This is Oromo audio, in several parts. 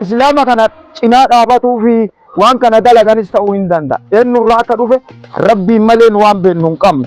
islaama kana cinaa dhaabatuu fi waan kana dalaganis ta'uu hin danda'a. Eenyurraa akka dhufe rabbiin malee nu waan beennu hin qabnu.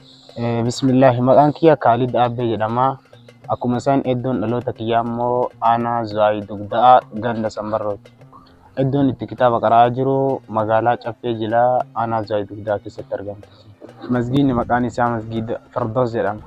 Bismillaahi maqaan kiyya Kaalid Aabbee jedhama. Akkuma isaan iddoon dhaloota kiyyaa immoo aanaa Zuwaayii Dugda'aa ganda Sambarrooti. Iddoon itti kitaaba qara'aa jiru magaalaa Caffee Jilaa aanaa Zuwaayii Dugda'aa keessatti argama. Masgiidni maqaan isaa Masgiida Firdoos jedhama.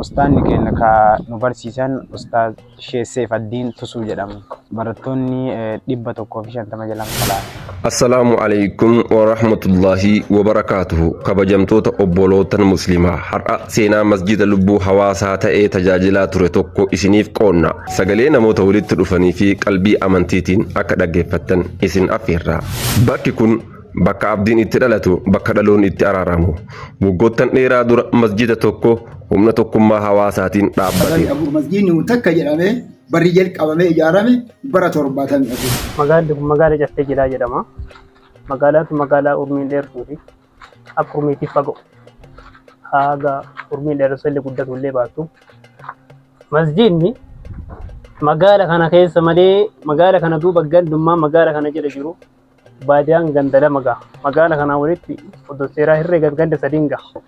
Ustaanni keenya ka nu barsiisan Ustaaz Sheikh Seefaddiin Tusuu jedhamu. Barattoonni 150 jalaan salaata. Assalaamu alaikum wa rahmatullahi wa barakaatuhu kabajamtoota obbolootan muslimaa har'a seenaa masjida lubbuu hawaasaa ta'ee tajaajilaa ture tokko isiniif qoonna sagalee namoota walitti dhufanii fi qalbii amantiitiin akka dhaggeeffattan isin affeerra bakki kun Bakka abdiin itti dhalatu, bakka dhaloonni itti araaramu. Waggoottan dheeraa dura masjiida tokko humna tokkummaa hawaasaatiin dhaabbate. Masjiidni kun takka jedhamee barri jalqabamee ijaarame bara 74. Magaalli kun magaala Caffee Jilaa jedhama. Magaalaan kun magaalaa urmiin dheertuu fi akka urmiitti fagoo haga urmiin dheeressa illee guddatu illee baattu. Masjiidni magaala kana keessa malee magaala kana duuba gandummaa magaala kana jala jiru Baadiyaan ganda lama gaha. Magaala kanaan walitti odoo seeraa herreegan ganda sadiin gaha.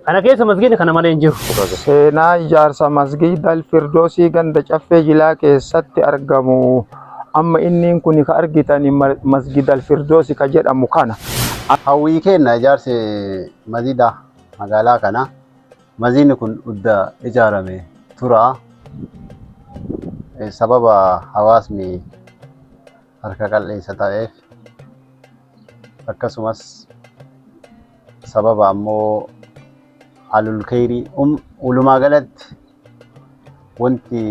Kana keessa masgiidni kana malee hin jiru. Seenaa ijaarsa masgiida Alfirdoosii ganda Caffee Jilaa keessatti argamu. Amma inniin kun ka argitan masgiida Alfirdoosi ka jedhamu kana. Hawwii keenna ijaarsi masgiida magaalaa kana. Masgiidni kun udda ijaarame tura. Sababa hawaasni harka qal'eessa ta'eef akkasumas sababa ammoo alul kheyrii ulumaa galatti wanti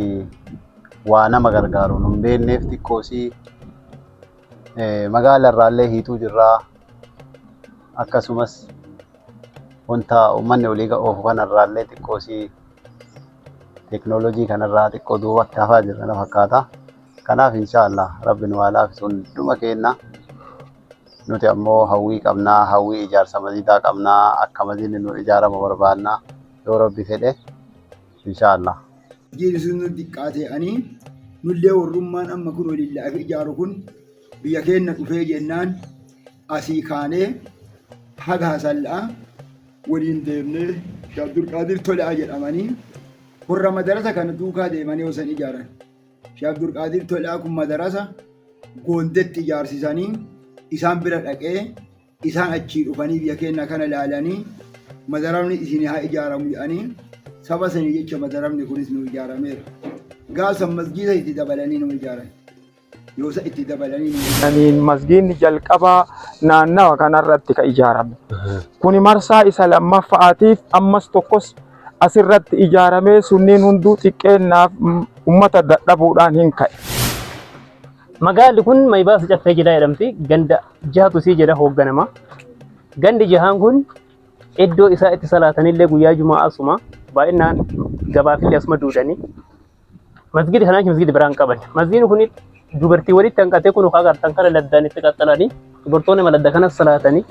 waa nama gargaaru nun beekneef xiqqoosii magaala irraallee hiixuu jirraa akkasumas wanta uummanni olii oofu kanarraallee xiqqoosii teeknooloojii kanarraa xiqqoo duubatti hafaa jirra na fakkaata. Kanaaf inshaallah rabbi nu haa laafisu hunduma keenna. Nuti ammoo hawwii qabnaa, hawwii ijaarsa masjidaa qabnaa, akka masjidni nu ijaaramu barbaanna yoo rabbi fedhe inshaallah. Masjidni sun nu diqqaate ani nullee warrummaan amma kun walillaah ijaaru kun biyya keenna dhufee jennaan asii kaanee haga hasalla'a waliin deemnee Abdulqaadir Tolaa jedhamanii warra madarasa kana duukaa deemanii osan ijaaran. Sheekh Abdulqaadir Tolaa kun madarasa Goondetti ijaarsisanii isaan bira dhaqee isaan achii dhufanii biyya keenya kana ilaalanii madaramni isin haa ijaaramu jedhanii saba sanii jecha madaramni kunis nu ijaarameera. Gaafsan masgiida itti dabalanii nu ijaaran. Yoosa itti dabalanii nu ijaaran. Kaniin masgiinni jalqabaa naannawa kanarratti ka ijaarame. Kuni marsaa isa lammaffaatiif ammas tokkos asirratti ijaaramee sunniin hunduu xiqqeennaaf ummata dadhabuudhaan hin ka'e. Magaalli kun Mayibaasa Caffee Jilaa jedhamti. Ganda jahatu isii jala hoogganama. Gandi jahaan kun iddoo isaa itti salaatanillee guyyaa Juma'aa asuma baay'inaan gabaafillee asuma duudanii. masgidi kanaa masgidi biraa hin qaban masgidni kun dubartii walitti hanqatee kun ukaa gartan kana laddaan itti qaxxalanii dubartoonni maladda kana salaatanii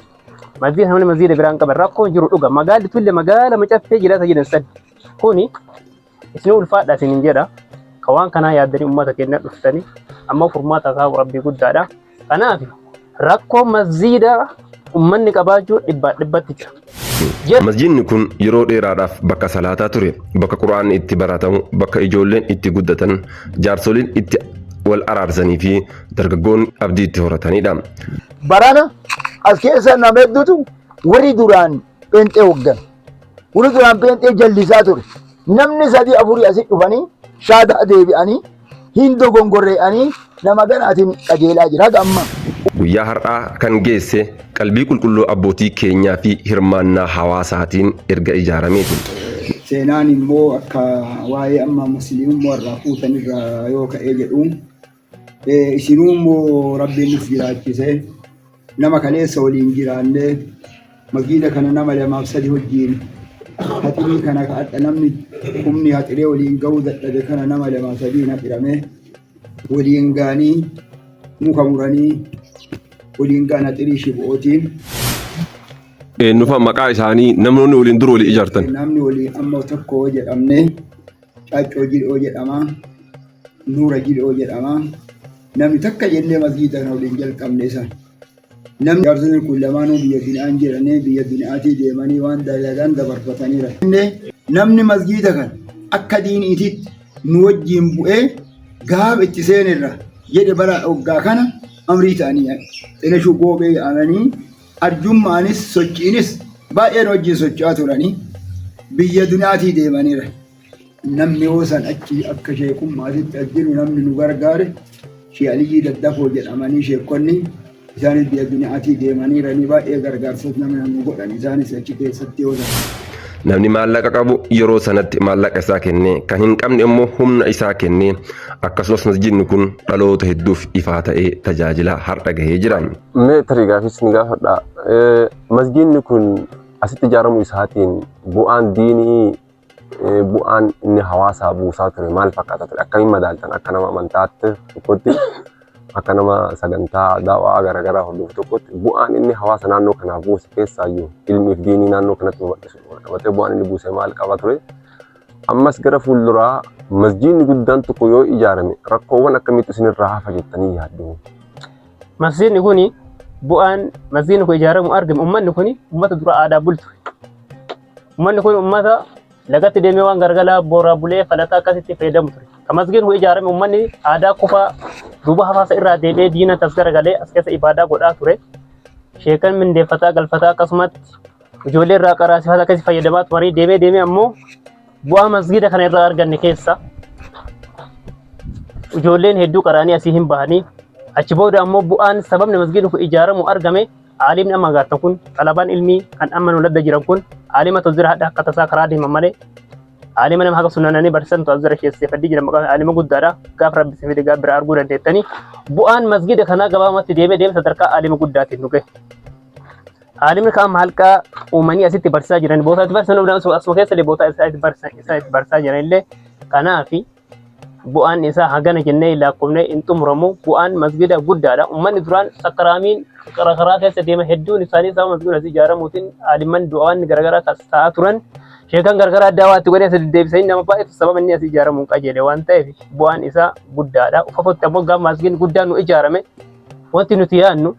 masgida kana masgida biraa hin qaban rakkoon jiru dhuga magaalli tulle magaala macaffee jiraata jedhan san kuni isin ulfaadha isin hin jedha ka waan kanaa yaaddanii ummata keenya dhuftanii amma furmaata isaa rabbii guddaadha Kanaaf rakkoo masjiida ummanni qabaachuu dhibbaa dhibbatti jira. Jedhu. Masjiidni kun yeroo dheeraadhaaf bakka salaataa ture, bakka Qur'aanni itti baratamu, bakka ijoolleen itti guddatan, jaarsoliin itti wal araarsanii fi dargaggoonni abdii itti horatanidha. Barana as keessa nama hedduutu warri duraan Pheenxee hoggan. Wani duraan pheenxee jallisaa ture. Namni sadii afurii asit dhufanii shaadaa deebi'anii hin dogongorree'anii nama ganaatiin qajeelaa jira haga ammaa. Guyyaa har'aa kan geesse qalbii qulqulluu abbootii keenyaa fi hirmaannaa hawaasaatiin erga ijaarameeti. Seenaan immoo akka waa'ee amma musliimummaa irraa fuutan irraa yoo ka'ee jedhu. Isinuu immoo rabbiin nuf jiraachise nama kaleessa waliin jiraanne makiina kana nama lamaaf sadi wajjiin haxirii kana ka adha namni humni haxiree waliin ga'uu dadhabe kana nama lamaaf sadiin haxirame waliin gaanii muka muranii waliin gaan haxirii shibu'ootiin Eenyufa maqaa isaanii namni waliin dur walii ijaartan. namni waliin amma tokko jedhamne Caaccoo Jil'oo jedhama. Nuura Jil'oo jedhama. Namni takka jennee masgiida kana waliin jalqabne isa. Namni jaarsonni kun lamaanuu biyya bina'aan jedhanii biyya bina'aatii deemanii waan dalagan dabarfataniira. Namni masgiida kana akka diiniitiitti nu wajjin bu'ee gaaf itti seenerra jedhe bara hoggaa kana amrii ta'anii dhenashuu goobee yaa'anii arjummaanis sochiinis baay'een wajjin socho'aa turanii biyya dunaatii deemaniira. Namni yoo san achi akka sheekummaatitti as jiru namni nu gargaare Shee Aliyyii Daddafoo jedhamanii sheekonni isaanis biyya dunaatii deemaniiranii baay'ee gargaarsos namni nu godhan isaanis achi keessatti yoo ta'u. Namni maallaqa qabu yeroo sanatti maallaqa isaa kennee kan hin qabne immoo humna isaa kennee akkasumas masjidni kun dhaloota hedduuf ifaa ta'ee tajaajila har'a gahee jira. Mee tarii gaafii isin gaafadha. Eh, Masgiinni kun asitti ijaaramu isaatiin bu'aan diinii eh, bu'aan inni hawaasaa buusaa ture maal fakkaata ture? Akkamiin madaaltan akka nama amantaatti tokkotti akka nama sagantaa daawaa garaagaraa hordofu tokkotti bu'aan inni hawaasa naannoo kanaaf buuse keessaayyuu ilmiif diinii naannoo kanatti babal'isuuf wal qabatee bu'aan inni buuse maal qaba ture? Ammas gara fuulduraa masjiidni guddaan tokko yoo ijaarame rakkoowwan akkamiitu isinirraa hafa jettanii yaaddu? Masjiidni kun bu'aan masjiidni kun ijaaramu argame uummanni kun uummata dura aadaa bultu. Uummanni kun uummata lagatti deemee waan gargalaa booraa bulee falataa akkasitti fayyadamu ture. Kan masjiidni kun ijaarame uummanni aadaa kufaa duuba hafaasa irraa deebi'ee diina tas garagalee as keessa ibaadaa godhaa ture. Sheekan mindeeffataa galfataa akkasumatti Ijoollee irraa qaraa sifaata akkasii fayyadamaa turanii deemee deemee ammoo bu'aa masgiida kana irraa arganne keessa ijoolleen hedduu qaraanii asii hin bahanii achi booda ammoo bu'aan sababni masgiidni kun ijaaramu argame aalimni amma gaatan kun xalabaan ilmii kan amma nu ladda jiran kun aalima tozira hadha akka tasaa karaa deeman malee aalima nama haga sunananii barsiisan tozira keessee faddii jiran maqaan aalima guddaadha gaaf rabbi sifide gaaf bira arguu dandeettanii bu'aan masgiida kanaa gabaabumatti deemee deemee sadarkaa aalima guddaatiin nu gahe. Aalimni kaan halqa uumanii asitti barsiisaa jiran bootaa itti barsiisan hundaan asuma keessa illee bootaa isaa itti barsiisan isaa itti barsiisaa jiran illee kanaaf bu'aan isaa hagana jennee lakkoofnee hin xumuramu bu'aan masgida guddaadha ummanni duraan sakaraamiin karaa keessa deema hedduun isaanii sababa masgida asii ijaaramuutiin aalimman du'aan garaagaraa kan ta'aa turan sheekan garaagaraa addaa waatti godhee sadi deebisanii nama baay'eetu sababa inni asii ijaaramu hin qajeele waan ta'eef bu'aan isaa guddaadha ufafotti ammoo gaafa masgidni guddaan nu ijaarame wanti nuti yaadnu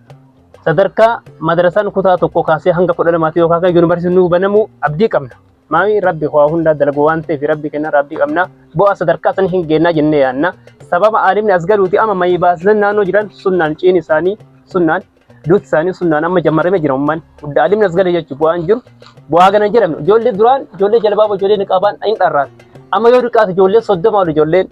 sadarkaa madrasaan kutaa tokko kaasee hanga kudha lamaatti yookaan kan yuunivarsiitiin nuu banamu abdii qabna. Maami rabbi waa hundaa dalagu waan ta'eef rabbi kenna rabbi qabna. Bu'aa sadarkaa san hin geennaa jennee yaanna. Sababa aalimni as galuuti amma mayii baasisan naannoo jiran sunnaan ciin isaanii sunnaan duuti isaanii sunnaan amma jammarame jira umman. Gudda aalimni as galee jechuun bu'aan jiru bu'aa gana jedhamne ijoollee duraan ijoollee jalbaaba ijoollee niqaabaan hin dharraati. Amma yoo dhiqaate ijoollee soddoma ol ijoollee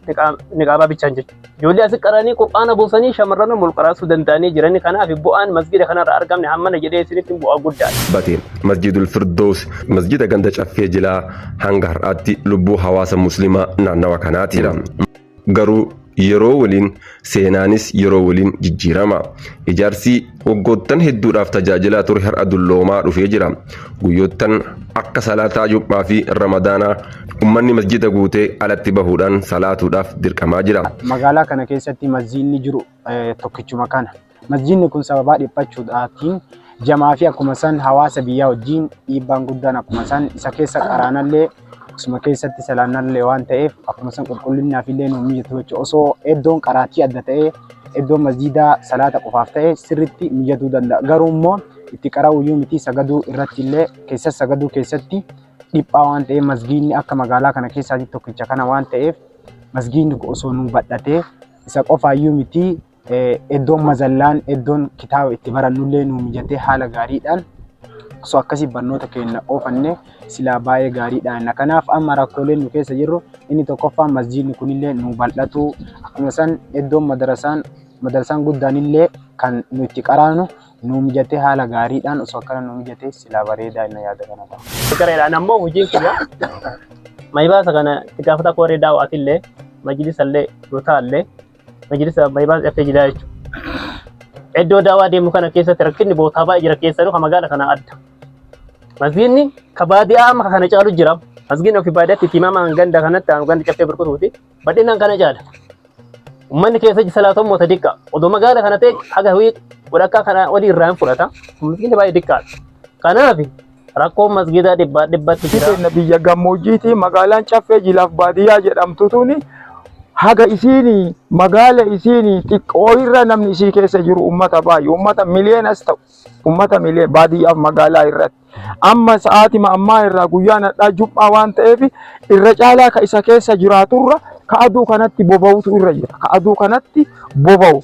niqaabaa bichaan jechuudha. Ijoollee asi qaranii qur'aana buusanii shamarran ol qaraasuu danda'anii jiranii kanaaf bu'aan masjida kanarra argamne hammana jedhee isinitti bu'aa guddaadha. bate masjidul firdoos masjida ganda caffee jilaa hanga har'aatti lubbuu hawaasa muslimaa naannawa kanaatiidha garuu yeroo waliin seenaanis yeroo waliin jijjiirama ijaarsi Waggoottan hedduudhaaf tajaajilaa ture har'a dulloomaa dhufee jira. Guyyoottan akka salaataa jum'aa fi ramadaanaa ummanni masjida guutee alatti bahuudhaan salaatuudhaaf dirqamaa jira. Magaalaa kana keessatti masjiidni jiru tokkichuma kana. Masjiidni kun sababaa dhiphachuudhaatiin jamaa fi akkuma san hawaasa biyyaa wajjiin dhiibbaan guddaan akkuma san isa keessa qaraanallee Akkasuma keessatti salaannallee waan ta'eef akkuma san qulqullinaaf illee nu mijatu jechuudha. Osoo iddoon qaraatii adda ta'ee iddoon masjiidaa salaata qofaaf ta'e sirriitti mijatuu danda'a. Garuu immoo itti qara'uu iyyuu miti sagaduu irratti illee keessa sagaduu keessatti dhiphaa waan ta'eef masjiidni akka magaalaa kana keessaatii tokkicha kana waan ta'eef masjiidni osoo nu badhatee isa qofaa iyyuu miti Eddoon mazallaan eddoon kitaaba itti barannullee nuu mijatee haala gaariidhaan osoo akkasii barnoota keenya oofanne silaa baay'ee gaariidha inna. Kanaaf amma rakkooleen nu keessa jirru inni tokkoffaan masjiidni kunillee nu bal'atuu akkuma san eddoon madarasaan madarasaan guddaanillee kan nu itti qaraanu nu mijatee haala gaariidhaan osoo akkana nu mijatee silaa bareedaa inna yaada kana qaba. Fikireedhaan ammoo hojiin kiyya mayibaasa kana itti gaafata kooree daaw'aatillee majlisallee rutaallee Majlisa Abbaybaas F Jilaa jechuudha. Iddoo daawaa deemu kana keessatti rakkinni bootaa baay'ee jira keessanuu kan magaala kana adda. Masgiinni ka baadiyaa amma kana caalu jira. Masgiinni ofii baadiyyaatti itti himamaan ganda kanatti aanu ganda caffee burqutuuti. Bal'inaan kana caala. Uummanni keessa salaatu immoo xiqqaa. Odoo magaala kana ta'e haga walakkaa kana olii irraa hin fudhata. Masgiinni baay'ee xiqqaadha. Kanaaf Rakkoon masgiidaa dhibbaa dhibbatti Isi jira. teenna biyya gammoojjiiti magaalaan caffee jilaaf baadiyyaa jedhamtu tuni haga isiini magaala isiini xiqqoo irra namni isii keessa jiru ummata baay'ee ummata miliyeenas ta'u ummata miliyeen baadiyyaaf magaalaa irratti amma sa'aatima ammaa irraa guyyaan hadhaa jum'aa waan ta'eef irra caalaa ka isa keessa jiraaturra ka aduu kanatti boba'utu irra jira ka aduu kanatti boba'u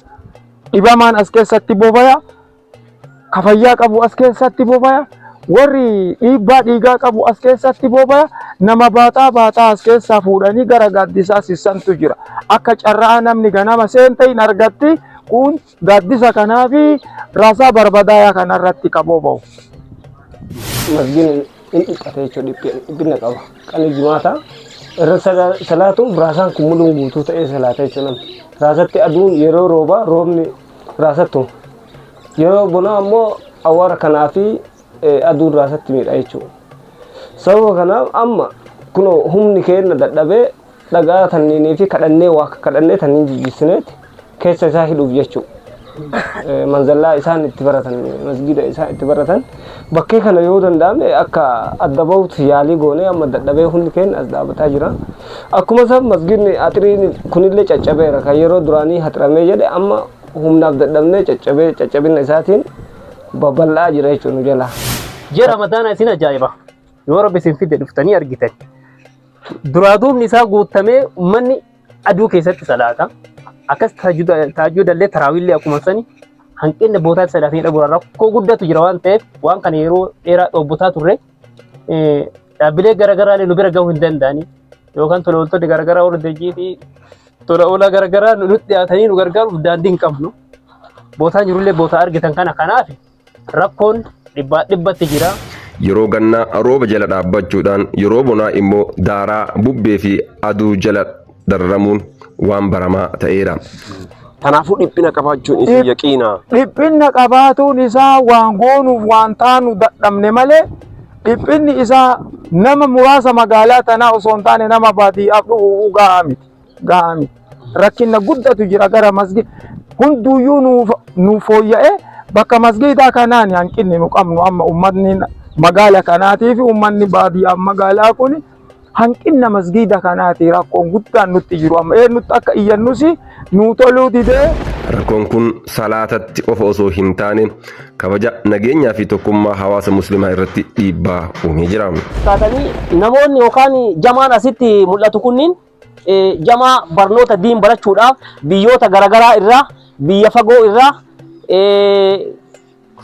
dhibamaan as keessatti bobaya ka fayyaa qabu as keessatti bobaya, warri dhiibbaa dhiigaa qabu as keessatti bobaya, nama baataa baataa as keessaa fuudhanii gara gaaddisaa sissantu jira. Akka carraa namni ganama seente hin argatti kun gaaddisa kanaa fi raasaa barbadaayaa kana irratti ka boba'u. Masgiin hin dhiphata jechuudha dhiphi- dhiphina qaba. Qalii jimaataa irra sala- salaatuuf raasaan kun muluun guutuu ta'ee salaata jechuudha. Raasatti aduun yeroo roobaa roobni raasattu. Yeroo bonaa ammoo awwaara kanaa fi aduun raasatti miidha jechuudha. Sababa kanaaf amma kunoo humni keenna dadhabee dhagaa tanniinii fi kadhannee waa kadhannee tanniin jijjiissineeti keessa isaa hidhuuf jechuudha. Manzallaa isaan itti baratan masgiida isaan itti baratan bakkee kana yoo danda'ame akka adda bahutti yaalii goonee amma dadhabee hundi keenya as dhaabataa jira. Akkuma san masgidni axiriin kunillee caccabeera kan yeroo duraanii haxiramee jedhe amma humnaaf dadhabnee caccabee caccabinna isaatiin babal'aa jira jechuun nu jalaa. Ji'a ramadaanaa isin ajaa'iba yoo rabbi isin fide dhuftanii argitan duraa duubni isaa guuttamee ummanni aduu keessatti salaata akkas taajjudallee taraawiillee akkuma sani hanqinni bootaatti salaatanii dhabuun rakkoo guddatu jira waan ta'eef waan kana yeroo dheeraa dhoobbotaa turre dhaabbilee garaagaraa nu bira gahuu hin danda'ani yookaan tola ooltonni garaagaraa warra hojii fi tola oolaa garaagaraa nu dhiyaatanii nu gargaaruuf daandii hin qabnu. Bootaan jirullee bootaa argitan kana kanaaf rakkoon dhibbaa dhibbatti jira. Yeroo gannaa rooba jala dhaabbachuudhaan yeroo bonaa immoo daaraa bubbee fi aduu jala dararamuun waan baramaa ta'eera. Kanaafuu dhiphina qabaachuun isin Dhip- yaqiina. Dhiphinna qabaatuun isaa waan goonuuf waan taanu dadhabne malee dhiphinni isaa nama muraasa magaalaa tanaa osoo hin taane nama baadiyyaaf dhufu gahaa miti. Gahaa miti. Rakkinna guddatu jira gara masgiida. Hunduyyuu nuuf nuuf fooyya'ee bakka masgiidaa kanaan hanqinni nu qabnu amma uummatni magaala kanaatii fi uummanni baadiyyaaf magaalaa kun Hanqinna masgiida kanaati rakkoon guddaan nutti jiru amma eenyutti akka iyyannus nuu toluu didee. Rakkoon kun salaatatti qofa osoo hin taane kabaja, nageenyaa fi tokkummaa hawaasa muslimaa irratti dhiibbaa uumee jira. taatanii namoonni yookaan jamaan asitti mul'atu kunniin Jamaa barnoota diin barachuudhaaf biyyoota garagaraa irraa biyya fagoo irraa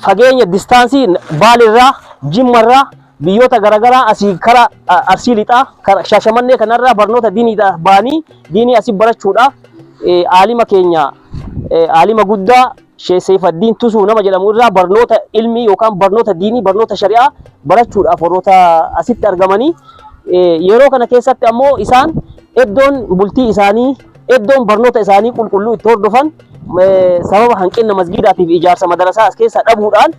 fageenya distaansii baal irraa jimma irraa biyyoota garagaraa asii kara arsii lixaa kara shaashamannee kanarraa barnoota diinii baanii diinii asii barachuudhaaf aalima keenya aalima guddaa Sheikh Seeyfaddiin Tusuu nama jedhamu irraa barnoota ilmii yookaan barnoota diinii barnoota shari'aa barachuudhaaf warroota asitti argamanii yeroo kana keessatti ammoo isaan iddoon bultii isaanii iddoon barnoota isaanii qulqulluu itti hordofan sababa hanqina masgiidaatiif ijaarsa madarasaa as keessa dhabuudhaan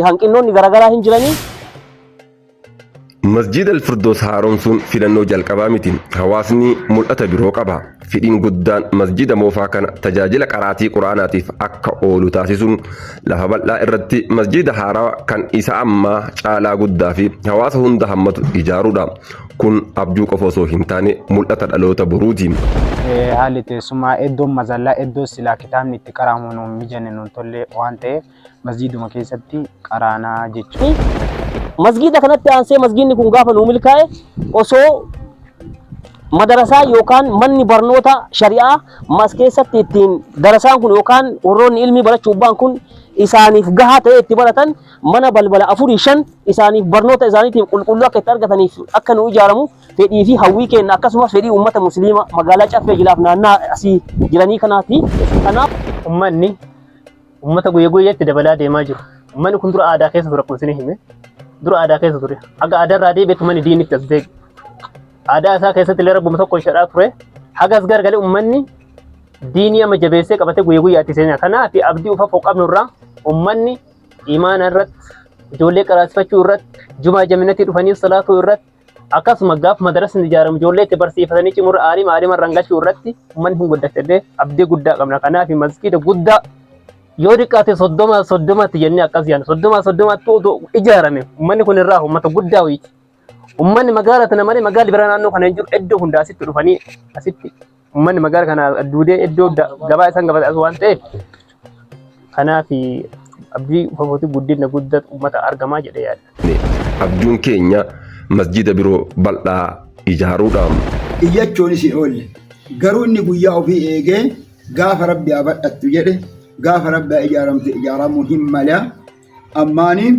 hanqinnoonni garaagaraa hin jiranii Masjiida Alfirdoos haaromsuun filannoo jalqabaa miti. Hawaasni mul'ata biroo qaba. Fedhiin guddaan masjiida moofaa kana tajaajila qaraatii Qur'aanaatiif akka oolu taasisuun lafa bal'aa irratti masjiida haarawa kan isa ammaa caalaa guddaa fi hawaasa hunda hammatu ijaaruudha. Kun abjuu qofa osoo hin taane mul'ata dhaloota boruuti. Haalli teessumaa iddoon mazallaa iddoo silaa kitaabni itti qara'amu nuun mijanne nuun tollee waan ta'eef Masjiiduma keessatti qaraanaa jechuun. Masjiida kanatti aansee masjiidni kun gaafa nuu milkaa'e osoo madarasaa yookaan manni barnoota shari'aa mas keessatti ittiin darasaan kun yookaan warroonni ilmii barachuuf ba'an kun isaaniif gahaa ta'ee itti baratan mana balbala afurii shan isaaniif barnoota isaaniitiif qulqulluu akka itti argataniif akka nu ijaaramu fedhii fi hawwii keenya akkasumas fedhii uummata musliima magaalaa caffee jilaaf naannaa asii jiranii kanaati. Kanaaf ummanni Uummata guyya guyyatti dabalaa deemaa jiru. Uummanni kun dura aadaa keessa ture akkuma isin hime. Dura aadaa keessa ture. Haga aadaa irraa deebi'e tumani diinni itti as deebi. Aadaa isaa keessatti illee rabbuma tokko ishadhaa ture. Haga as gargalee uummanni diinii amma jabeessee qabatee guyya guyyaatti seenaa. Kanaaf abdii ufa foqqabnu irraa uummanni imaana irratti ijoollee qaraasifachuu irratti jumaa jaminatii dhufanii salaatuu irratti Akkasuma gaaf madarasni ijaaramu ijoollee itti barsiifatanii cimurra aalima aalima irraan gachuu irratti ummanni hin guddatedhee abdii guddaa qabna. Kanaaf masgiida guddaa yoo xiqqaate soddoma soddomatti jennee akkas yaadna. Soddoma soddomatti utuu ijaarame ummanni kun irraa uummata guddaa wayiiti. Ummanni magaalaa tana malee magaalli bira naannoo kana hin jiru iddoo hundaa asitti dhufanii asitti Uummanni magaala kana duudee iddoo da- gabaa isaan gabata as waan ta'eef kanaaf abdii fafootii guddina guddaa uummata argamaa jedhee yaada. Abjuun keenya masjida biroo bal'aa ijaaruudha. iyyachuunis hin oolle. Garuu inni guyyaa ofii eegee gaafa Rabbi haa badhattu jedhe gaafa Rabbi haa ijaaramtu ijaaramuu hin mala. ammaanii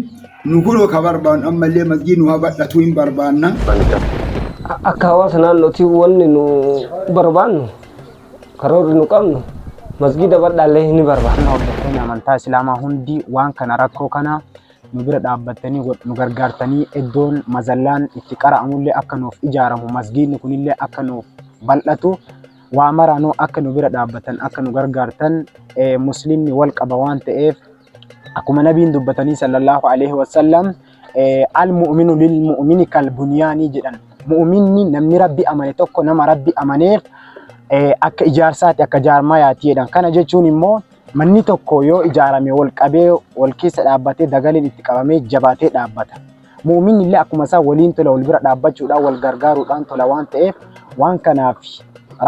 nu guroo ka barbaannu ammallee masgii nu habadhatuu hin barbaanna. Akka hawaasa naannootii wanni nu barbaannu karoorri nu qabnu masgiida badhaallee ni barbaanna. Hordoftoonni amantaa Islaamaa hundi waan kana rakkoo kana nu bira dhaabbattanii nu gargaartanii iddoon mazallaan itti qara'amullee akka nuuf ijaaramu masgiidni kunillee akka nuuf bal'atu waa maraanuu akka nu bira dhaabbatan akka nu gargaartan musliimni wal qaba waan ta'eef Akkuma nabiin dubbatanii sallallahu alaihi wasallam al mu'minu lil mu'mini kal bunyaanii jedhan. Mu'minni namni rabbi amane tokko nama rabbi amaneef akka ijaarsaati akka jaarmayaati jedhan. Kana jechuun immoo manni tokko yoo ijaarame wal qabee wal keessa dhaabbatee dagaleen itti qabamee jabaatee dhaabbata. Mu'uminni illee akkuma isaa waliin tola wal bira dhaabbachuudhaan wal gargaaruudhaan tola waan ta'eef waan kanaaf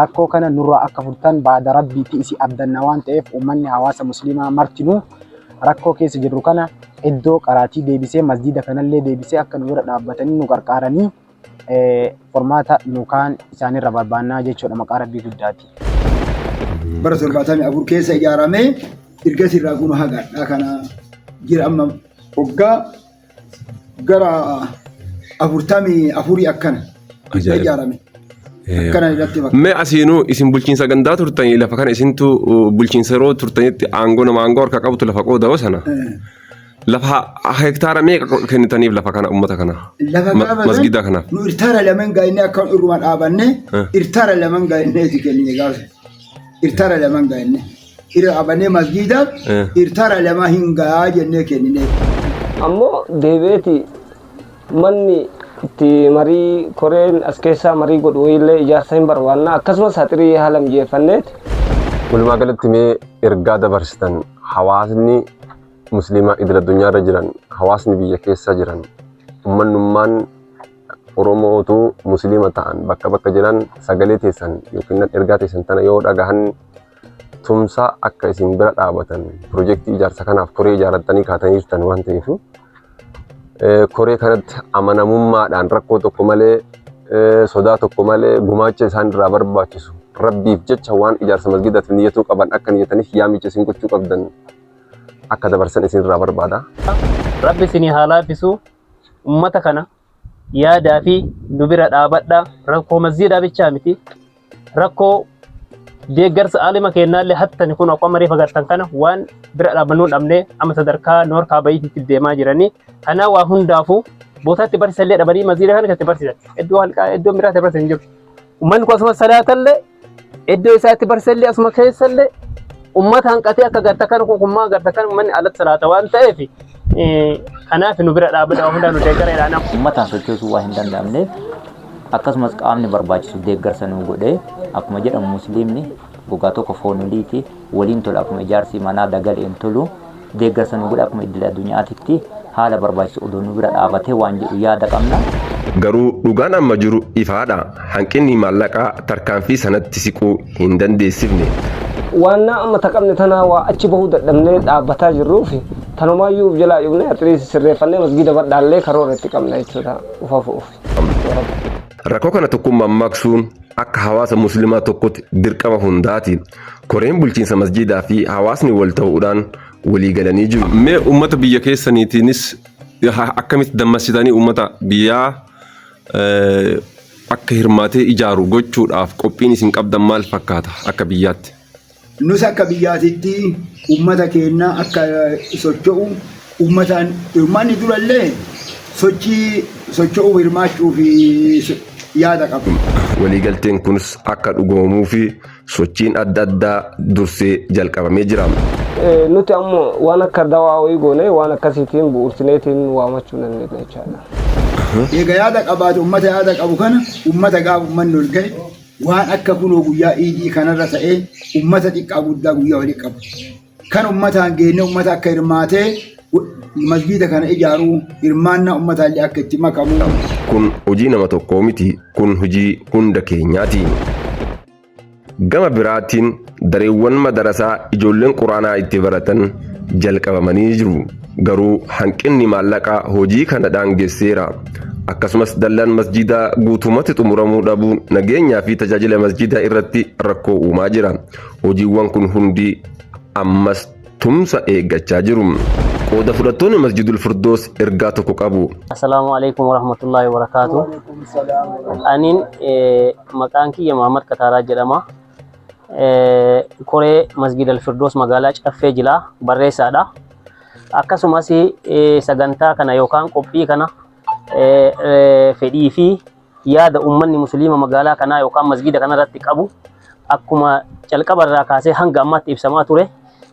rakkoo kana nurraa akka furtan baada rabbiitti isi abdanna waan ta'eef uummanni hawaasa musliimaa martinuu rakkoo keessa jirru kana iddoo qaraatii deebisee masjiida kanallee deebisee akka nu bira dhaabbatanii nu qarqaaranii formaata nu kaan isaanirra barbaannaa jechuudha maqaa rabbii guddaati. Bara torbaatamii afur keessa ijaaramee ergasii irraa kun hagadhaa kana jira amma waggaa gara afurtamii afurii akkana Ajaa'iba. ijaarame akkana irratti bakka Mee asiinuu isin bulchiinsa gandaa turtanii lafa kana isintu uh, bulchiinsa yeroo turtanitti aangoo nama aangoo harka qabutu lafa qooda'oo sana lafa ha- hektaara meeqa qo- kennitaniif lafa kana uummata kana lafa Ma- gaafa masgida san kanaaf nu irtaara laman gaa'inne akka irruma dhaabanne Eh. irtaara laman gaa'inne itti kennine gaafa irtaara laman gaa'inne Hira abanee masjiida Eh. hirtara lama hin gahaa jennee kennineef. ammoo deebi'eeti manni itti marii koreen as keessaa marii godhu illee ijaarsa hin barbaanna akkasumas haxirii haala mijeeffanneeti Walumaa galatti mee ergaa dabarsitan hawaasni musliimaa idil addunyaarra jiran hawaasni biyya keessa jiran ummannummaan oromootu musliima ta'an bakka bakka jiran sagalee teessan yookiin ergaa teessan tana yoo dhagahan tumsaa akka isin bira dhaabatan pirojektii ijaarsa kanaaf koree ijaarrattanii kaatanii jirtan waan ta'eef koree kanatti amanamummaadhaan rakkoo tokko malee sodaa tokko malee gumaacha isaan irraa barbaachisu rabbiif jecha waan ijaarsa masgidaatiif niyyatuu qaban akka niyyataniif yaamicha isin gochuu qabdan akka dabarsan isin irraa barbaada. Rabbi isinii haa laaffisu ummata kana yaadaa fi nu bira dhaabadha. Rakkoo masjiidaa bichaa miti. Rakkoo deeggarsa aalima keennaallee hattani kun akkuma marii fagartan kana waan bira dhaabannuu dhabne amma sadarkaa noor kaabayiititti deemaa jiranii. Kanaa waa hundaafuu bootaatti barsiisallee dhabanii masjiida kana keessatti barsiisan. Iddoo halqaa iddoon biraatti barsiisan jiru. Uummanni kun akkasumas salaatallee Iddoo isaatti barsellee asuma keessallee ummata hanqatee akka garta kan kukummaa garta kan ummanni alatti salaata waan ta'eef kanaaf nu bira dhaabbataa hundaa nu deeggareedha nama. Ummataan sochoosuu waan hin danda'amneef akkasumas qaamni barbaachisu deeggarsa nu godhee akkuma jedhamu musliimni gogaa tokko foon oliiti waliin tola akkuma ijaarsi manaa dagaleen tolu deeggarsa nu godha akkuma iddil addunyaatitti haala barbaachisu odoo nu bira dhaabatee waan jedhu yaada qabna. Garuu dhugaan amma jiru ifaadha. Hanqinni maallaqaa tarkaanfii sanatti siquu hin dandeessifne. Waannaa amma ta qabne tanaa waa achi bahuu dadhabnee dhaabbataa jirruuf tanumaayyuu uf jalaa cufnee atleast sirreeffannee masgiida badhaallee karoora itti qabna jechuudha ufa fu'uuf. Ya Rabbi. Rakkoo kana tokkummaan maqsuun akka hawaasa muslimaa tokkotti dirqama hundaati. Koreen bulchiinsa masjiidaa fi hawaasni wal ta'uudhaan walii galanii jiru. Mee uummata biyya keessaniitiinis akkamitti dammassitanii uummata biyyaa akka hirmaatee ijaaru gochuudhaaf qophiin isin qabdan maal fakkaata akka biyyaatti? Nus akka biyyaatitti uummata keenya akka socho'u uummataan hirmaanni durallee sochii socho'uuf hirmaachuu fi yaada qabna. Waliigalteen kunis akka dhugoomuu fi sochiin adda addaa dursee jalqabamee jira. Nuti ammoo waan akka dawaa wayii goonee waan akkasiitiin bu'uursineetiin waamachuu dandeenya jechaadha. Eega yaada qabaate ummata yaada qabu kana ummata gaafa ummanni ol ga'e waan akka kunoo guyyaa iidii kanarra ta'ee ummata xiqqaa guddaa guyyaa walitti qabu. Kan ummataan geenne ummata akka hirmaatee masjiida kana ijaaruu hirmaannaa ummataallee akka itti makamu. Kun hojii nama tokkoo miti, kun hojii hunda keenyaati. Gama biraatiin dareewwan madarasaa ijoolleen Quraanaa itti baratan jalqabamanii jiru. Garuu hanqinni maallaqaa hojii kana daangesseera. Akkasumas dallaan masjiidaa guutumatti xumuramuu dhabuun nageenyaa fi tajaajila masjiidaa irratti rakkoo uumaa jira. Hojiiwwan kun hundi ammas tumsa eeggachaa jiru. Qooda fudhattoonni Masjidul Firdoos ergaa tokko qabu. Assalaamu alaikum warahmatullaahi wabarakaatu. Aniin maqaan kiyya Muhammad Kataaraa jedhama. Koree Masjid Alfirdoos magaalaa Caffee Jilaa barreessaadha. Akkasumas sagantaa kana yookaan qophii kana fedhii fi yaada ummanni musliima magaalaa kanaa yookaan masgiida kanarratti qabu akkuma calqaba irraa kaasee hanga ammaatti ibsamaa ture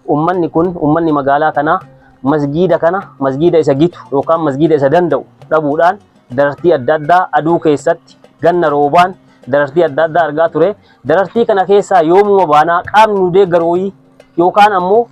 ummanni kun ummanni magaalaa kanaa masgiida kana masgiida isa gitu yookaan masgiida isa danda'u dhabuudhaan darartii adda addaa aduu keessatti ganna roobaan darartii adda addaa argaa ture darartii kana keessaa yoomuma baanaa qaamni nu deeggarooyii yookaan ammoo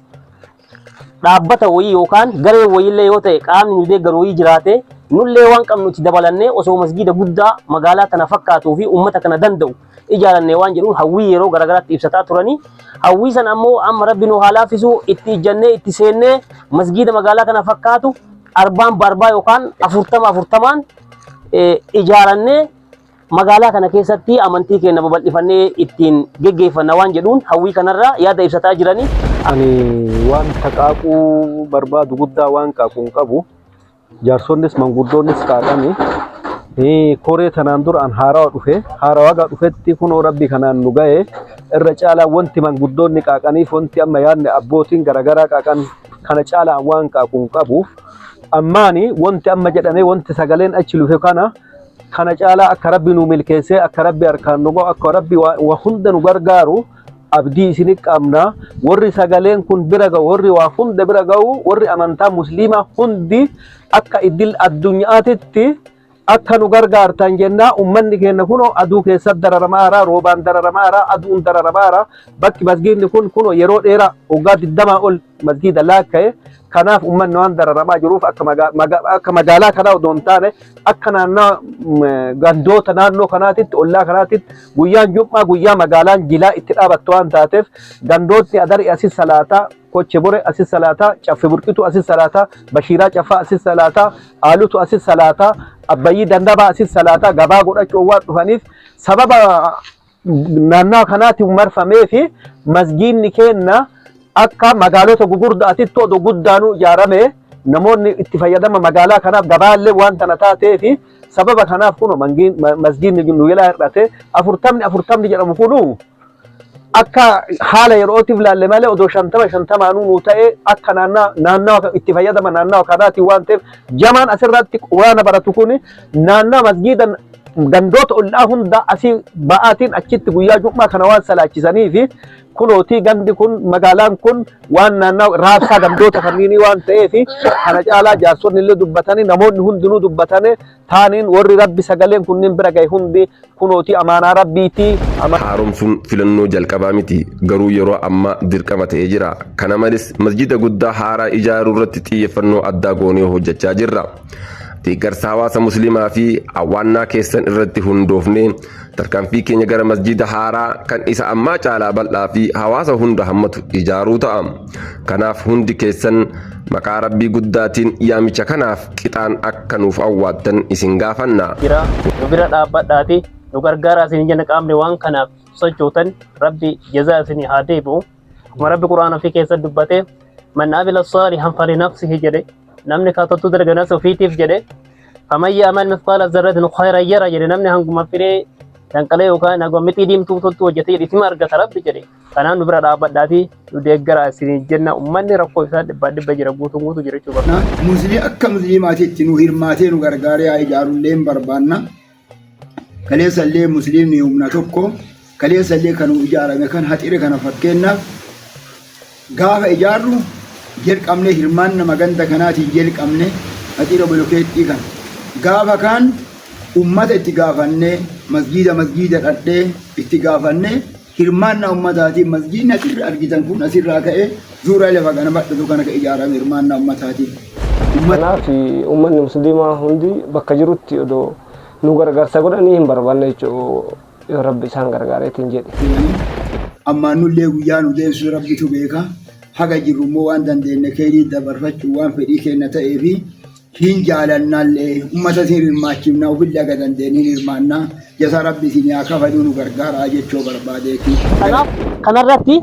dhaabbata wayii yookaan garee wayiillee yoo ta'e qaamni nu deeggaru wayii jiraate nullee waan qabnu itti dabalannee osoo masgiida guddaa magaalaa tana fakkaatuu fi uummata kana danda'u ijaaranne waan jedhuun hawwii yeroo garaagaraatti ibsataa turanii hawwii san ammoo amma rabbi nu haa laaffisuu itti ijjannee itti seennee masgiida magaalaa kana fakkaatu arbaan baarbaa yookaan afurtama afurtamaan eh, ijaarannee Magaalaa kana keessatti amantii keenya babal'ifannee ittiin geggeeffanna waan jedhuun hawwii kanarraa yaada ibsataa jirani. Ani waan taqaaquu barbaadu guddaa waan qaaqu hin qabu. Jaarsonnis manguddoonnis qaaqani. Koree tanaan dura an haarawa dhufe. Haarawa gaa dhufetti kunoo rabbi kanaan nu ga'e. Irra caalaa wanti manguddoonni qaaqaniif wanti amma yaadni abbootiin garaagaraa qaaqan kana caalaa an waan qaaqu hin qabu. Ammaani wanti amma jedhame wanti sagaleen achi lufe kana Kana caalaa akka Rabbi nu milkeessee, akka Rabbi harkaan nu ga'u, akka Rabbi waa waa hunda nu gargaaru abdii isin qabna. Warri sagaleen kun bira ga'u, warri waa hunda bira ga'u, warri amantaa musliimaa hundi akka idil addunyaatitti akka nu gargaartan jennaa ummanni keenya kunoo aduu keessatti dararamaara, roobaan dararamaara, aduun dararamaara. Bakki masgiidni kun kunoo yeroo dheeraa waggaa 20 ol masgiida laakka'e Kanaaf uummanni waan dararamaa jiruuf akka maga- maga- akka magaalaa kanaa odoo hin taane akka naannaa mm, gandoota naannoo kanaatitti ollaa kanaatitti guyyaan jum'aa guyyaa magaalaan jilaa itti dhaabattu waan taateef gandootni adari asis salaataa koche bore asis salaataa caffe burqitu asis salaataa bashiiraa caffaa asis salaataa aalutu asis salaataa abbayyii dandabaa asis salaataa gabaa godhachuu waan dhufaniif sababa naannaa kanaatiin marfamee fi masgiinni keenna akka magaalota gugurdaatitti odoo guddaanuu ijaarame namoonni itti fayyadama magaalaa kanaaf gabaallee waan tana taatee fi sababa kanaaf kun masgiinni nu jalaa hir'ate afurtamni afurtamni jedhamu kun akka haala yerootiif laalle malee odoo shantama shantamaanuu nu ta'e akka naannaa itti fayyadama naannaa kanaatiin waan ta'eef jamaan asirratti quraana baratu kun naannaa masgiida gandoota ollaa hundaa asii ba'aatiin achitti guyyaa jum'aa kana waan salaachisanii fi kunootii gandi kun magaalaan kun waan naannaa raabsaa gandoota kanniinii waan ta'eef kana caalaa jaarsonni illee dubbatanii namoonni hundinuu dubbatanii taaniin warri rabbi sagaleen kunniin bira gahe hundi kunooti amaanaa Rabbiiti. Haaromsuun filannoo jalqabaa miti, garuu yeroo ammaa dirqama ta'ee jira. Kana malees, masjiida guddaa haaraa ijaaruu irratti xiyyeeffannoo addaa goonee hojjechaa jirra. Deeggarsa hawaasa Muslimaa fi hawwaannaa keessan irratti hundoofnee, tarkaanfii keenya gara masjiida haaraa kan isa ammaa caalaa bal'aa fi hawaasa hunda hammatu ijaaruu ta'a. Kanaaf hundi keessan maqaa Rabbii guddaatiin yaamicha kanaaf qixaan akka nuuf awwaattan isin gaafanna. jira nu bira dhaabbadhaati nu gargaaraa isin jenna qaamni waan kanaaf sochootan rabbi jazaa isin haa deebi'u akkuma rabbi quraan ofii keessa dubbate man amila saalihan falinafsihi jedhe namni kaatottuu darganas ofiitiif jedhe faman ya'mal mithqaala zarratin khayran yara jedhe namni hanguma firee danqalee yookaan hanguma mixii diimtuu tottuu hojjetee jedhe itima argata rabbi jedhe Kanaaf nu bira dhaabbadhaatii nu deeggaraa isiniin jenna. Ummanni rakkoo isaa dhibbaa dhibba jira guutuun guutuu jirachuu barbaada. Na musli akka musliimaatitti nu hirmaatee nu gargaaree haa ijaarullee hin barbaanna. Kaleessallee musliimni humna tokko kaleessallee kan nu ijaarame kan haxire kana fakkeenna gaafa ijaarru jalqabne hirmaanna maganda kanaatiin jalqabne haxira bolokeettii kana gaafa kaan ummata itti gaafannee masgiida masgiida dhadhee itti gaafannee Hirmaannaa ummataatiin masjiidni asirra argitan kun asirraa ka'ee zuuraa lafa kana bal'atu kana ka ijaarame hirmaannaa ummataatiin. Ummat- Kanaaf uummanni musliimaa hundi bakka jirutti odoo nu gargaarsa godhanii hin barbaanne jechuudha yoo rabbi isaan gargaareetiin jedhe. jedhanii ammaan nullee guyyaa nu deemsu rabbitu beeka haga jirru immoo waan dandeenye keeyrii dabarfachuu waan fedhii keenna ta'ee fi Siin jaalannaalle ummata siin hirmaachifna ofille haga dandeenye hin hirmaanna. Jazaa Rabbi isinii haa kafaluu nu gargaaraa jechoo barbaadeeti. Kanaaf kana irratti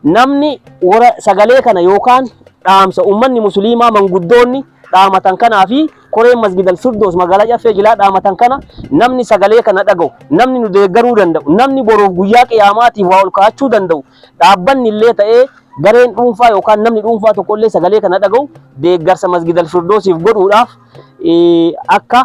namni wara sagalee kana yookaan dhaamsa ummanni musiliimaa manguddoonni dhaamatan kanaa fi koreen Masgidal Firdoos magaalaa Caffee Jilaa dhaamatan kana namni sagalee kana dhaga'u, namni nu deeggaruu danda'u, namni boruuf guyyaa qiyaamaatiif waa ol kaa'achuu danda'u, Dhaabbanni illee ta'ee gareen dhuunfaa yookaan namni dhuunfaa tokko illee sagalee kana dhaga'u deeggarsa Masgidal Firdoosiif godhuudhaaf akka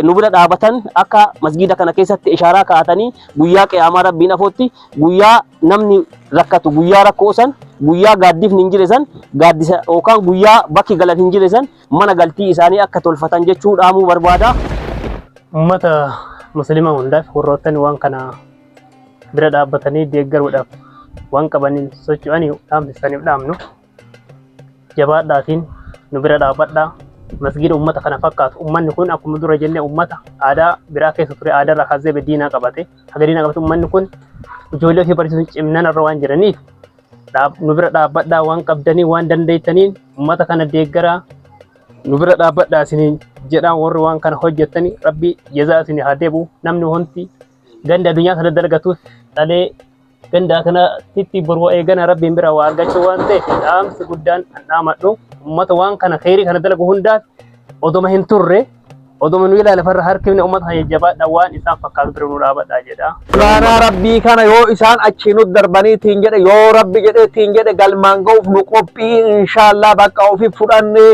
nu bira dhaabatan akka masgiida kana keessatti ishaaraa kaa'atanii guyyaa qiyaamaa rabbiin afootti guyyaa namni rakkatu guyyaa rakkoo san guyyaa gaaddifni hin jire san gaaddisa yookaan guyyaa bakki galan hin jire san mana galtii isaanii akka tolfatan jechuu dhaamuu barbaada. Uummata muslimaa hundaaf warroottan waan kana bira dhaabbatanii deeggaruudhaaf waan qabaniin socho'anii dhaamsi isaaniif dhaamnu jabaadhaatiin nu bira dhaabadhaa masgiida ummata kana fakkaatu ummanni kun akkuma dura jennee ummata aadaa biraa keessa ture aadaa irraa kaasee diinaa qabate haga diinaa qabate ummanni kun ijoollee ofii barsiisuun cimnan irra waan jiraniif nu bira dhaabbadhaa waan qabdanii waan dandeettaniin ummata kana deeggaraa nu bira dhaabbadhaa isiniin jedhaan warri waan kana hojjettanii rabbi jazaa isinii haa deebi'u namni wanti ganda addunyaa kana dalagatus dhalee gandaa kanatti bor wa'ee gana rabbiin bira waa argachuu waan ta'eef dhaamsi guddaan an dhaamadhu ummata waan kana kheyrii kana dalagu hundaaf odoma hin turre odoma nu ilaala farra harkifne ummata kana jajjabaadha waan isaan fakkaatu bira nu dhaabadha jedha. Baanaa rabbii kana yoo isaan achii nu darbanii ittiin jedhe yoo rabbi jedhe ittiin jedhe galmaan ga'uuf nu qophii inshaallah bakka ofi fudhannee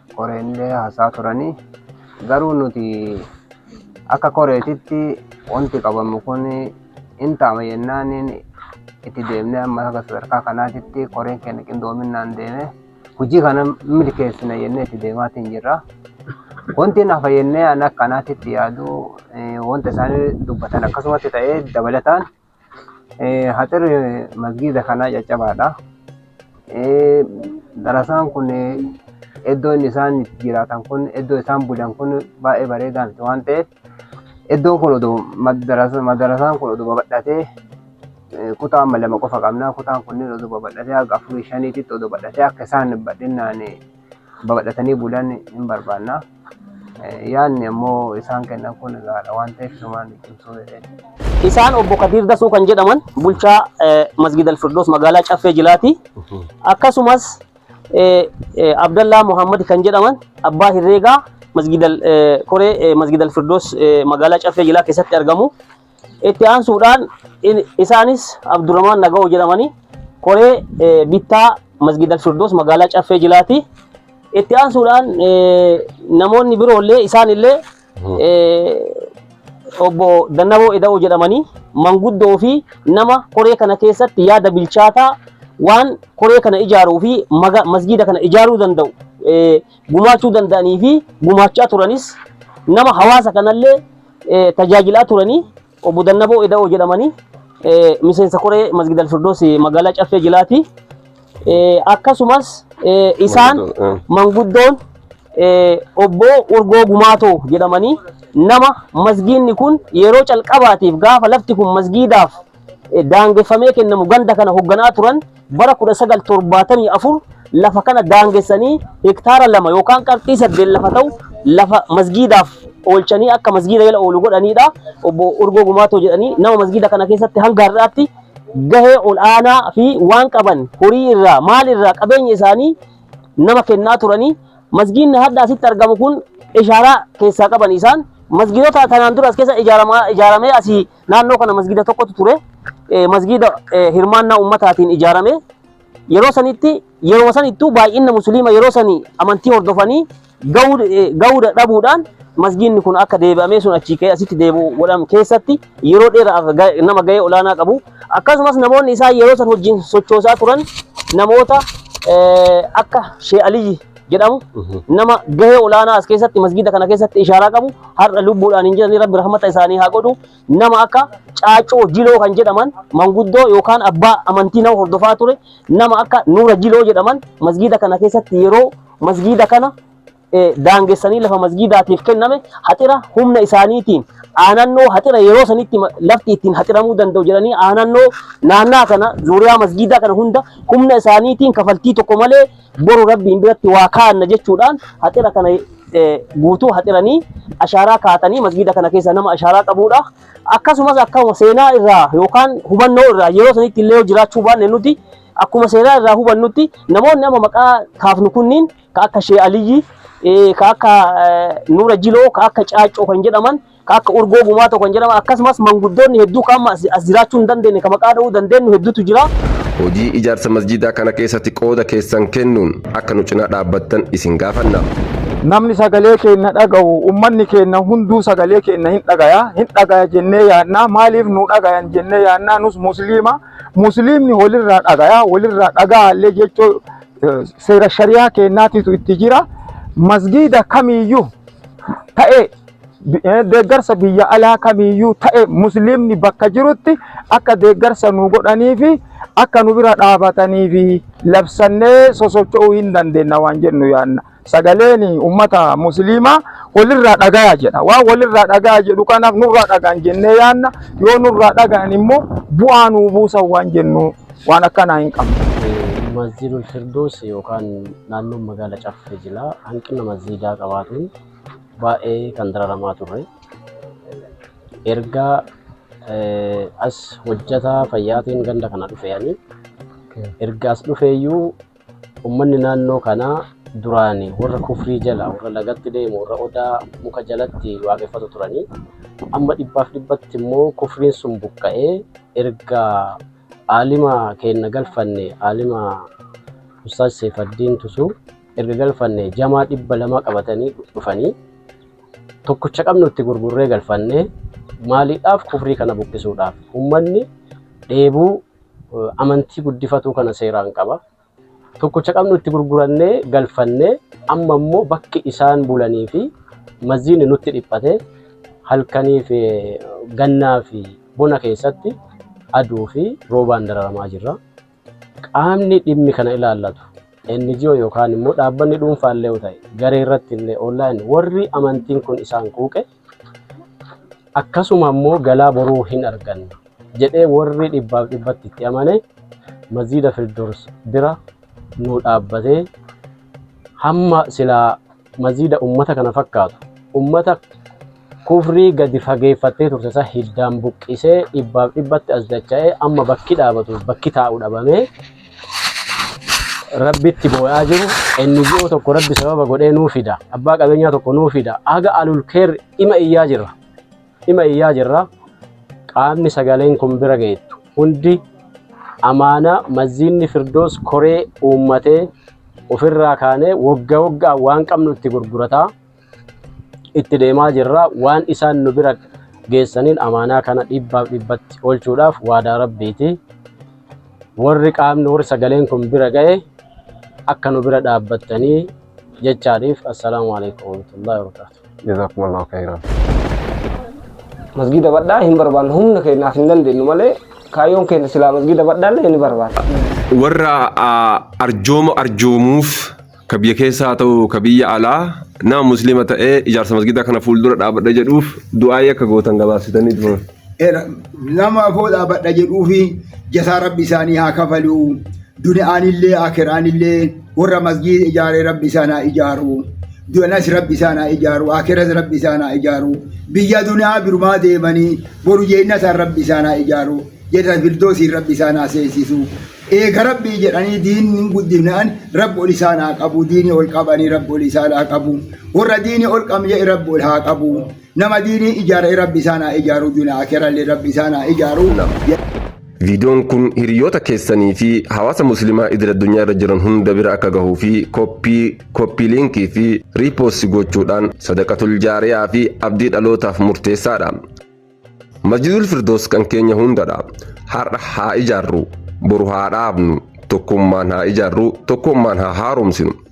Koreenillee haasaa turanii garuu nuti akka koreetitti wanti qabamu kun hin taama jennaan itti deemnee amma akka sadarkaa kanaatitti koreen keenya qindoominaan deeme hojii kana milkeessina jennee itti deemaatiin jirra. Wanti nafa jennee an akkanaatitti yaadu wanta isaan dubbatan akkasumatti ta'ee dabalataan Haxir masgiida kanaa caccabaadha. Darasaan kun iddoo inni isaan itti jiraatan kun iddoo isaan bulan kun baay'ee bareedaa miti waan ta'eef iddoon kun odoo madarasaan kun odoo babal'atee kutaa amma lama qofa qabna. Kutaan kunniin odoo babal'atee haga afurii shaniititti odoo babal'atee akka isaan bal'inaan babal'atanii bulan hin barbaanna. Yaadni ammoo isaan kennan kun gahaadha waan ta'eef sumaan cimsuu jedheen. Isaan obbo Kadiir Dasuu kan jedhaman bulchaa Masgiid Alfirdoos magaalaa Caffee Jilaati. Akkasumas Abdallaa Muhammad kan jedhaman abbaa herreegaa Masgiid Koree Masgiid Alfirdoos magaalaa Caffee Jilaa keessatti argamu. Itti aansuudhaan in- isaanis Abdurrahmaan Nagawoo jedhamanii koree eh, bittaa Masgiid Al-Firdoos magaalaa Caffee Jilaati. Itti aansuudhaan eh, namoonni biroollee isaanillee eh, obbo Dannaboo Eda'oo jedhamanii manguddoo fi nama koree kana keessatti yaada bilchaataa waan koree kana ijaaruu fi maga- masgiida kana ijaaruu danda'u eh, gumaachuu danda'anii fi gumaachaa turanis nama hawaasa kanallee tajaajilaa turanii obbo Dannaboo Eda'oo jedhamanii miseensa koree Masgid Alfirdoos magaalaa Caffee Jilaati. Akkasumas isaan manguddoon obbo Urgoo Gumaatoo jedhamanii nama masgiinni kun yeroo calqabaatiif gaafa lafti kun masgiidaaf daangeffamee kennamu ganda kana hogganaa turan bara 1974 lafa kana daangessanii hektaara lama yookaan qarxii saddeet lafa ta'u lafa masgiidaaf oolchanii akka masgiida jala oolu godhaniidha. Obbo Urgoo Gumaatoo jedhanii nama masgiida kana keessatti hanga har'aatti gahee ol'aanaa fi waan qaban horii irraa maal irraa qabeenya isaanii nama kennaa turanii masgiinni hadda asitti argamu kun ishaaraa keessaa qaban isaan masgiidota kanaan dura as keessa ijaaramaa- ijaaramee asii Naannoo kana masgiida tokkotu ture. Masgiida hirmaannaa ummataatiin ijaarame. Yeroo sanitti yeroo sanittuu baay'inna musliima yeroo sanii amantii hordofanii ga'uu dadhabuudhaan masgiinni kun akka deebi'amee sun achii ka'ee asitti deebi'u godhamu keessatti yeroo dheeraaf nama ga'ee olaanaa qabu. Akkasumas namoonni isaan yeroo san wajjin sochoosaa turan namoota akka Shee Aliyyi jedhamu nama gahee olaanaa as keessatti masgiida kana keessatti ishaaraa qabu har'a lubbuudhaan hin jiranii rabbi rahmata isaanii haa godhu nama akka caacoo jiloo kan jedhaman manguddoo yookaan abbaa amantii nama hordofaa ture nama akka nuura jiloo jedhaman masgiida kana keessatti yeroo masgiida kana eh, daangessanii lafa masgiidaatiif kenname haxira humna isaaniitiin aanannoo haxira yeroo sanitti ma- lafti ittiin haxiramuu danda'u jedhanii aanannoo naannaa kana zuuriyaa masgiidaa kana hunda humna isaaniitiin kafaltii tokko malee Boru Rabbiin biratti waa kaa'anna jechuudhaan haxira kana guutuu haxiranii ashaaraa kaa'atanii masgiida kana keessa nama ashaaraa qabuudha. Akkasumas akkuma seenaa irraa yookaan hubannoo irraa yeroo sanitti illee jiraachuu baanne nuti akkuma seenaa irraa hubannutti namoonni amma maqaa kaafnu kunniin ka akka Shee Aliyyi ka akka Nuura Jiloo ka akka Caaccoo kan jedhaman ka akka urgoo gumaatoo kan jedhaman akkasumas manguddoonni hedduu ka amma as jiraachuu hin dandeenye ka maqaa dha'uu dandeenyu hedduutu jira. Hojii ijaarsa masjiidaa kana keessatti qooda keessan kennuun akka nu cinaa dhaabbattan isin gaafanna. Namni sagalee keenna dhagahu, ummanni keenna hunduu sagalee keenna hin dhagaya, hin dhagaya jennee yaanna, maaliif nu dhagayan jennee yaanna, nus musliima, musliimni walirraa dhagaya, walirraa dhaga'aallee jechoo seera shari'aa keennaatitu itti jira. Masgiida kamiiyyuu ta'ee deeggarsa biyya alaa kamiiyyuu ta'e musliimni bakka jirutti akka deeggarsa nu godhanii fi akka nu bira dhaabatanii fi labsannee sosocho'uu hin dandeenna waan jennu yaanna. Sagaleen uummata musliimaa walirraa dhagaya jedha. Waan walirraa dhagaya jedhu kanaaf nurraa dhagaan jennee yaanna. Yoo nurraa dhagaan immoo bu'aa nuu buusan waan jennu waan akkanaa hin qabnu. Masjiidul Firdoos yookaan naannoon magaala Caffee jila hanqina masjiidaa qabaatuun baay'ee kan dararamaa turre. Erga as hojjetaa fayyaatiin ganda kana dhufeeyani. Erga as dhufeeyyuu uummanni naannoo kanaa duraan warra kufrii jala warra lagatti deemu warra odaa muka jalatti waaqeffatu turanii amma dhibbaaf dhibbatti immoo kufriin sun buqqa'ee erga aalima keenna galfanne aalima ustaaz Seefaddiin Tusuu erga galfanne jamaa dhibba lama qabatanii dhufanii tokkicha qabnu itti gurgurree galfanne maaliidhaaf kufrii kana buqqisuudhaaf ummanni dheebuu eh, amantii guddifatuu kana seeraan qaba tokkicha qabnu itti gurgurannee galfanne amma immoo bakki isaan bulanii fi mazziin nutti dhiphate halkanii fi eh, gannaa fi bona keessatti aduu fi roobaan dararamaa jirra. Qaamni dhimmi kana ilaallatu, NGO yookaan immoo dhaabbanni dhuunfaa illee yoo ta'e, garee irratti illee online warri amantiin kun isaan quuqe akkasuma immoo galaa boruu hin arganna jedhee warri dhibbaaf dhibbatti itti amane Masjiida Firdows bira nuu dhaabbatee hamma silaa Maziida ummata kana fakkaatu ummata kufrii gadi fageeffattee turte isa hiddaan buqqisee dhibbaaf dhibbatti as dacha'ee amma bakki dhaabatuuf bakki taa'u dhabamee rabbitti boo'aa jiru NGO tokko rabbi sababa godhee nuu fida abbaa qabeenyaa tokko nuu fida haga alulkeer ima iyyaa jira Cima iyyaa jirra. Qaamni sagaleen kun bira geettu hundi amaana Masjiidni Firdoos koree uummatee ofirraa kaanee wogga woggaan waan qabnu itti gurgurataa itti deemaa jirra. Waan isaan nu bira geessaniin amaanaa kana dhibbaaf dhibbatti oolchuudhaaf waadaa Rabbiiti. Warri qaamni warri sagaleen kun bira ga'e akka nu bira dhaabbattanii jechaadhiif. Assalaamu alaikum warahmatullahi wabarakatuh. Jazakumullahu khairan. Masgiida badhaa hin barbaannu humna keenyaaf hin dandeenyu malee kaayyoon keenya silaa masgiida badhaallee ni barbaanna. warra ah, arjooma arjoomuuf ka biyya keessaa haa ta'u ka biyya alaa nama musliima ta'ee ijaarsa masgidaa kana fuuldura dhaabadha jedhuuf du'aayii akka gootan gabaabsitanii turan. nama afoo dhaabadha jedhuu fi jasaa rabbi isaanii haa kafaluu duniyaanillee akiraanillee warra masjiida ijaaree rabbi isaan haa ijaaru dunas rabbi isaan haa ijaaru akiras rabbi isaan haa ijaaru biyya duniyaa birumaa deemanii boru jeennataan rabbi isaan haa ijaaru jedha firdoosiin rabbi isaan haa seesisu eega rabbii jedhanii diinni guddinaan rabbi ol isaan haa qabu diinii ol qabanii rabbi ol isaan haa qabu warra diinii ol qabne rabbi ol haa qabu Nama diinii ijaare rabbi isaan haa ijaaruu duna akerallee rabbi isaan haa ijaaruu. Nam. Viidiyoon kun hiriyoota keessanii fi hawaasa muslimaa idil addunyaa irra jiran hunda bira akka gahuu fi koppii, koppii liinkii fi riipoossi gochuudhaan sadaqatul jaariyaa fi abdii dhalootaaf murteessaadha. Masjidul Firdoos kan keenya hundadha. Har'a haa ijaarru, boru haa dhaabnu, tokkummaan haa ijaarru, tokkummaan haa haaromsinu.